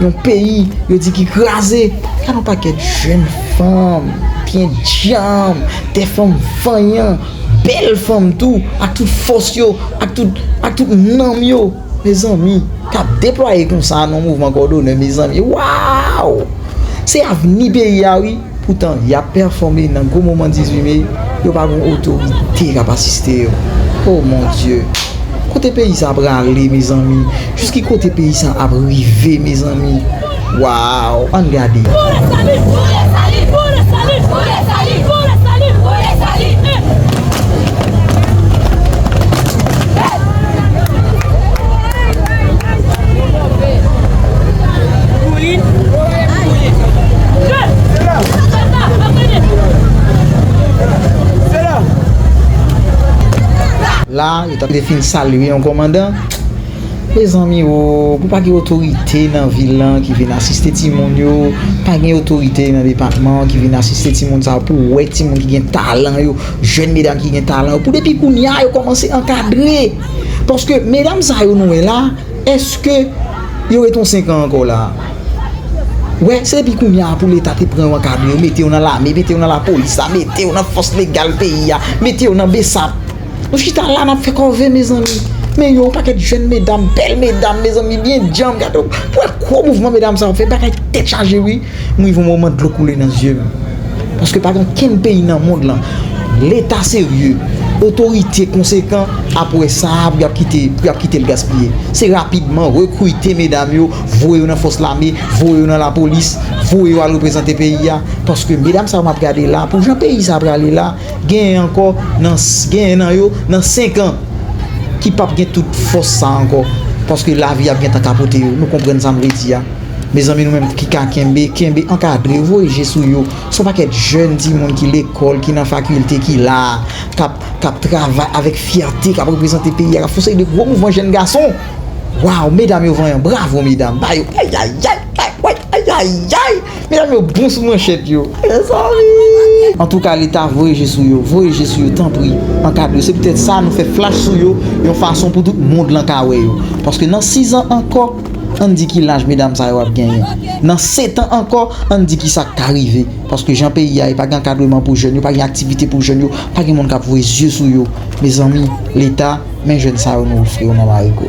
Yon peyi yo di ki kraze. Gade yon pakèt jenn fanm, pyen djanm, de fanm vanyan, bèl fanm tou, ak tout fòs yo, ak tout, ak tout nanm yo, mezanmi, k ap deplwaye konsa nan yon mouvman kòdone, mezanmi, waaww! Se avni peyi a wi! Poutan, y ap pèfòme nan gwo moman 18 me, yo pa gen yon otorite k ap asiste yo. O mon Dye! Kote peyi sa prale mezanmi? Jis ki kote peyi sa ap rive mezanmi? Waw! Ann gade! La a, yo ta dwe fin salye yon kòmandan. Mezanmi o, pou pa gen otorite nan vil lan ki vin asiste timoun yo, pa gen otorite nan depatman an ki vin asiste timoun sa yo pou wè timoun ki gen talan yo, jèn medam ki gen talan yo, pou depi kounye a yo kòmanse ankadre. Paske medam sa yo nou wè la. Eske yo ret yon 5 an ankò la a? Wè, se depi kounye a pou leta te pran yo ankadre yo, mete yo nan lame, mete yo nan lapolis la, mete yo nan fòs legal peyi a, mete yo nan bsap. Nou chita la n ap fè kòve mezanmi. Men yo, yon pakèt jèn medam, bèl medam mezanmi, byen djanm, gade yon, wè gwo mouvman medam sa yo fè, bagay tèt chaje wi. M rive yon moman dlo koule nan zye m paske pa gen kenn peyi nan mond lan leta serye otorite konsekan ap wè sa pou y ap kite pou y ap kite l gaspiye se rapidman rekrite medam yo voye yo nan fòs lame voye yo nan lapolis voye yo al reprezante peyi a paske medam sa yo m ap gade la pou jan peyi sa a prale la genyen ankò nan genyen nan yo nan senkan ki p ap gen tout fòs sa a ankò paske lavi ap gentan kapote yo nou konprann sa m vle di a. Mezanmi nou menm ki ka kenbe, kenbe, ankadre, voye je sou yo. Son pakèt jèn timoun ki lekòl, ki nan fakilte, ki la a, k ap, k ap travay avèk fyète, k ap reprezante peyi a, k ap fè yon seri de gwo mouvman jèn gason. Waw, medam yo vanyan, bravo medam, ba yo, ayayay, ayayay, ayayay! Medam yo bon sou manchèt yo, mezanmi! Antouka leta voye je sou yo, voye je sou yo tanpri, ankadre yo. Se poutèt sa nou fè flach sou yo yon fason pou tout mond lan ka wè yo. Paske nan sizan ankò. Ann di ki laj medam sa yo ap genyen. Nan setan ankò, ann di ki sa k ka rive. Paske jan peyi a ye, pa gen ankadreman pou jèn yo, pa gen aktivite pou jèn yo, pa gen moun k ap voye zye sou yo. Mezanmi, Leta, men jèn sa yo nou ofri yo nan Marigo.